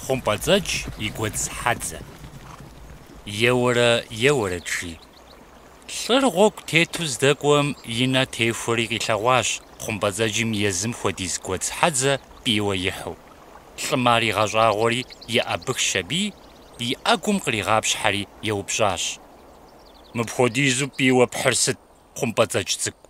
Хъумпӏэцӏэдж и гуэдз хьэдзэ. Еуэрэ еуэрэт, жи. Лӏыр гъуэгу тету здэкӏуэм и нэ техуэри къилъэгъуащ хъумпӏэцӏэджым езым хуэдиз гуэдз хьэдзэ пӏийуэ ихьу. Лӏым ар игъэщӏагъуэри еӏэбыхщ аби, и ӏэгум къригъапщхьэри еупщӏащ. Мыпхуэдизу пӏийуэ пхьыр сыт, хъумпӏэцӏэдж цӏыкӏу?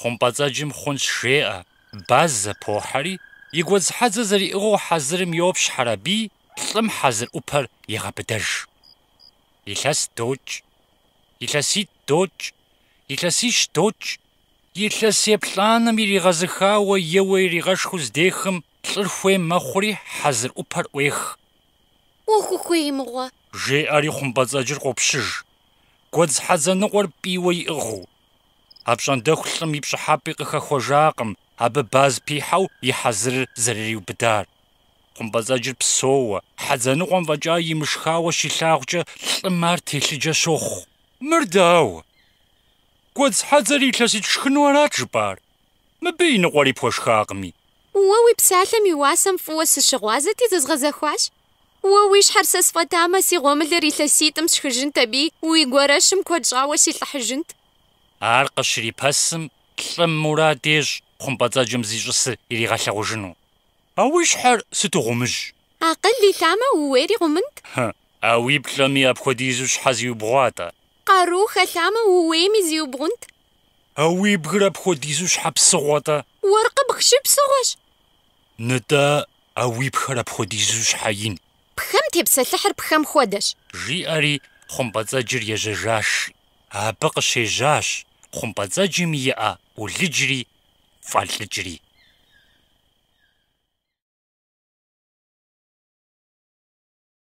Хъумпӏэцӏэджым хъунщ жеӏэ, Баз зэпохьэри, и гуэдзхьэдзэ зэриӏыгъыу хьэзырым йопщхьэр аби, лӏым хьэзыр ӏупэр егъэбыдэж. Илъэс докӏ. Илъэситӏ докӏ. Илъэсищ докӏ. Илъэс еплӏанэм иригъэзыхауэ еуэ иригъэшхыу здехым лӏыр хуей мэхъури хьэзыр ӏупэр ӏуех. Уэхухуей мыгъуэ! жеӏэри хъумпӏэцӏэджыр къопщыж, гуэдзхьэдзэ ныкъуэр пӏийуэ иӏыгъыу. Апщӏондэху лӏым и пщӏыхьэпӏи къыхэхуэжакъым абы баз пихьэу и хьэзырыр зэрыриубыдар. Хъумпӏэцӏэджыр псоуэ, хьэдзэныкъуэм фӏэкӏа имышхауэ щилъагъукӏэ лӏым ар телъыджэ щохъу. Мыр дауэ? Гуэдз хьэдзэр илъэситӏ шхыну арат жыпӏар, мыбы и ныкъуэри пхуэшхакъыми. Уэ уи псалъэм и уасэм фӏыуэ сыщыгъуазэти, зэзгъэзэхуащ. Уэ уи щхьэр сэ сфӏэтамэ, си гъуэмылэр илъэситӏым сшхыжынт аби, уи гуэрэщым куэд щӏауэ силӏыхьыжынт. Ар къыщрипэсым, лӏым мурад ещӏ хъумпӏэцӏэджым зищӏысыр иригъэлъэгъужыну. А уи щхьэр сыту гъумыжь! Акъыл илъамэ, ууейри гъумынт. Хы, а уи плӏэми апхуэдизу щхьэ зиубгъуа-тӏэ? Къару хэлъамэ, ууейми зиубгъунт. А уи бгыр апхуэдизу щхьэ псыгъуэ-тӏэ? Уэркъ ибг щыпсыгъуэщ. Нытӏэ, А уи пхэр апхуэдизу щхьэ ин? Пхэм тепсэлъыхьыр пхэм хуэдэщ. Жиӏэри хъумпӏэцӏэджыр ежьэжащ. Абы къыщежьащ хъумпӏэцӏэджым иӏэ ӏулыджри фӏэлӏыкӏри.